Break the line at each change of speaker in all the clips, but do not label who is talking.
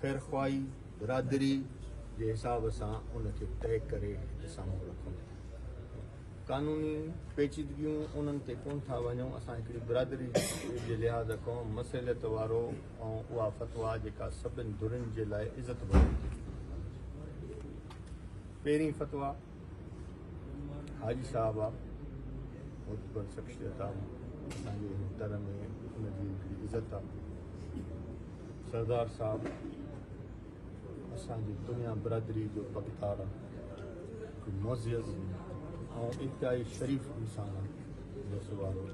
خيرخواهي برادري جي حساب سان ان کي طئي ڪري سامهون رکون ٿا. قانوني پيچيدگيون انهن تي ڪونه ٿا وڃون، اسان هڪڙي برادري جي لحاظ کان مصلحت وارو ۽ اها فتويٰ جيڪا سڀني ڌرين جي لاء عزت واري هجي. پهرين فتويٰ. حاجي صاحب آ معتبر شخصيت آ اسان جي هن تر ۾ ان جي هڪڙي عزت آ سردار صاحب اسان جي دنيا برادري جو پڳتار آ هڪ معزز ۽ انتهائي شريف انسان آ جس وارو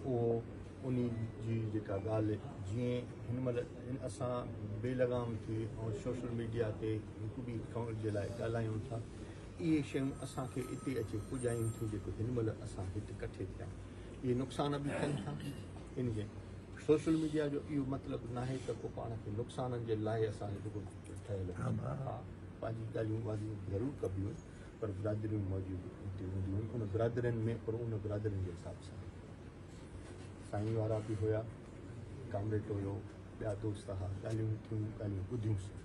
اهو انهي جي جيڪا ڳالهه جيئن هن مهل اسان بي لغام ٿي ۽ سوشل ميڊيا تي هڪ ٻئي ڪنوڙ جي لاء ڳالهايون ٿا. اهي شيون اسان کي اتي اچي پڄايون ٿيون جيڪو هن مهل اسان هت ڪٺي ٿيا آهيون. اهي نقصان به ٿين ٿا. ان جي سوشل ميڊيا جو اهو مطلب ناهي ته ڪو پاڻ کي نقصانن جي لاء اسان جو جيڪو ٺهيل آهي. ها پنهنجي ڳالهيون واضح ضرور ڪبيون پر برادريون موجود اتي هونديون آهن ان برادرين ۾ پر ان برادرين جي حساب سان سائين وارا به هيا ڪامريٽ هيو ٻيا دوست ها ڳالهيون ٿيون ڳالهيون ٻڌيون سين.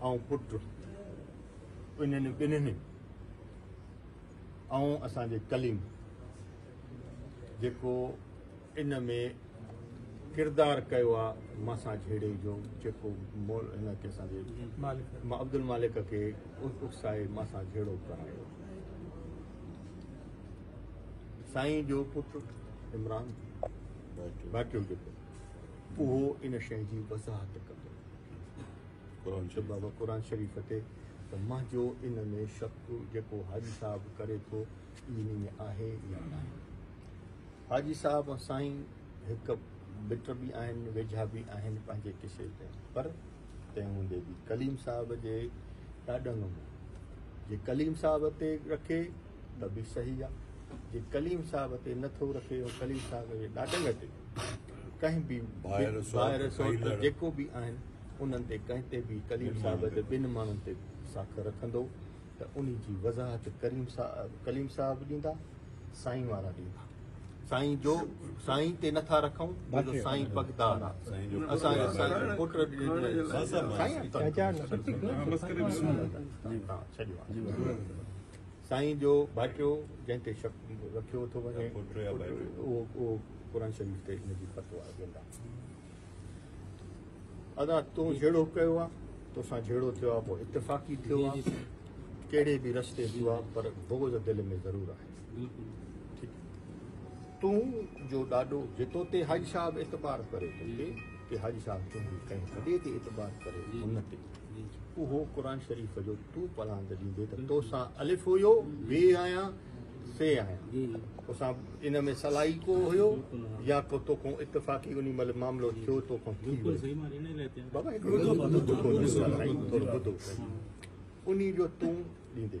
آئون پٽ انهن ٻنهي آئون اسان جي ڪليم جيڪو ان ۾ ڪردار ڪيو آ مسا جھيڙي جو جيڪو مول هن کي اسان جي عبد المالڪ کي اڪسائي مسا جھيڙو ڪرايو سائين جو پٽ عمران باقيو جيڪو اهو ان شئي جي وضاحت ڪندو قرآن شريف بابا قرآن شريف تي ته منهنجو ان ۾ شڪ جيڪو حاجي صاحب ڪري ٿو ان ۾ آهي يا ناهي حاجي صاحب ۽ سائين هڪ مٽ به آهن ويجها به آهن پنهنجي قصي تي پر تنهن هوندي به ڪليم صاحب جي ڏاڏن ۾ جي ڪليم صاحب تي رکي ته به صحيح آهي جي ڪليم صاحب تي نٿو رکي ۽ ڪليم صاحب جي ڏاڏن تي ڪنهن به ڀائر سوٽ جيڪو به آهن انهن تي ڪنهن تي به ڪليم صاحب تي ٻن ماڻهن تي ساک رکندو ته ان جي وضاحت ڪريم صاحب ڪليم صاحب ڏيندا سائين وارا ڏيندا سائين جو سائين تي نٿا رکون جو سائين پگدار آهي اسان جو سائين پٽ سائين سائين جو ڀائٽيو جنهن تي شڪ رکيو ٿو وڃي اهو قرآن شريف تي ان جي فتوا ڏيندا ادا تو جهڙو ڪيو آ توسان جهڙو ٿيو آ پوء اتفاقي ٿيو آ ڪهڙي به رستي ٿيو آ پر بغض دل ۾ ضرور آهي ٺيڪ تون جو ڏاڏو جي توتي حاجي صاحب اعتبار ڪري توکي ڪي حاجي صاحب تنهنجي ڪنهن وڏي تي اعتبار ڪري هن تي اهو قرآن شريف جو تون پڙهاند ڏيندي ته توسان الف هيو بي آهيان سي آهيان توسان ان ۾ صلاحي ڪو هيو يا ڪو توکون اتفاقي انهي مهل معاملو ٿيو توکون ٿي ويو بابا هڪڙو ٻڌو ته سائين ٿورو ٻڌو انهي جو تون ڏيندي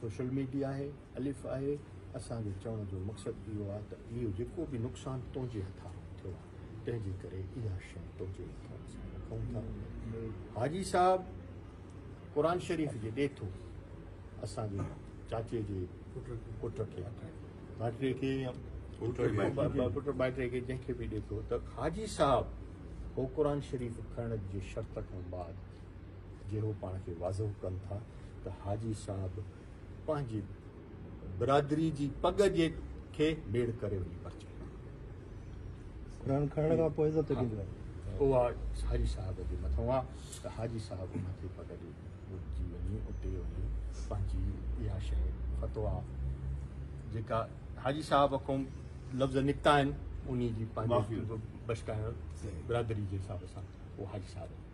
سوشل ميڊيا آهي الف آهي اسان جي چوڻ جو مقصد اهو آهي ته اهو جيڪو به نقصان تنهنجي هٿان ٿيو آهي تنهن جي ڪري اها شئي تنهنجي هٿان اسان رکون ٿا حاجي صاحب قرآن شريف جي ڏيٿو اسان جي چاچي جي پٽ کي ڀاٽي کي پٽ ڀاٽي کي جنهن کي به ڏيٿو ته حاجي صاحب هو قرآن شريف کڻڻ جي شرط کان بعد جي هو پاڻ کي واضح ڪن ٿا ته حاجي صاحب پنهنجي برادري جي پڳ جي کي ميڙ ڪري وڃي پرچي
کڻڻ کان پوء عزت ڏيندو آهي اها
حاجي صاحب جي مٿان آهي ته حاجي صاحب ان کي پڳ ڏي اچي وڃي اتي وڃي پنهنجي اها شي فتوا جيڪا حاجي صاحب کان لفظ نڪتا آهن انهي جي پنهنجي بشڪائڻ برادري جي حساب سان اهو حاجي صاحب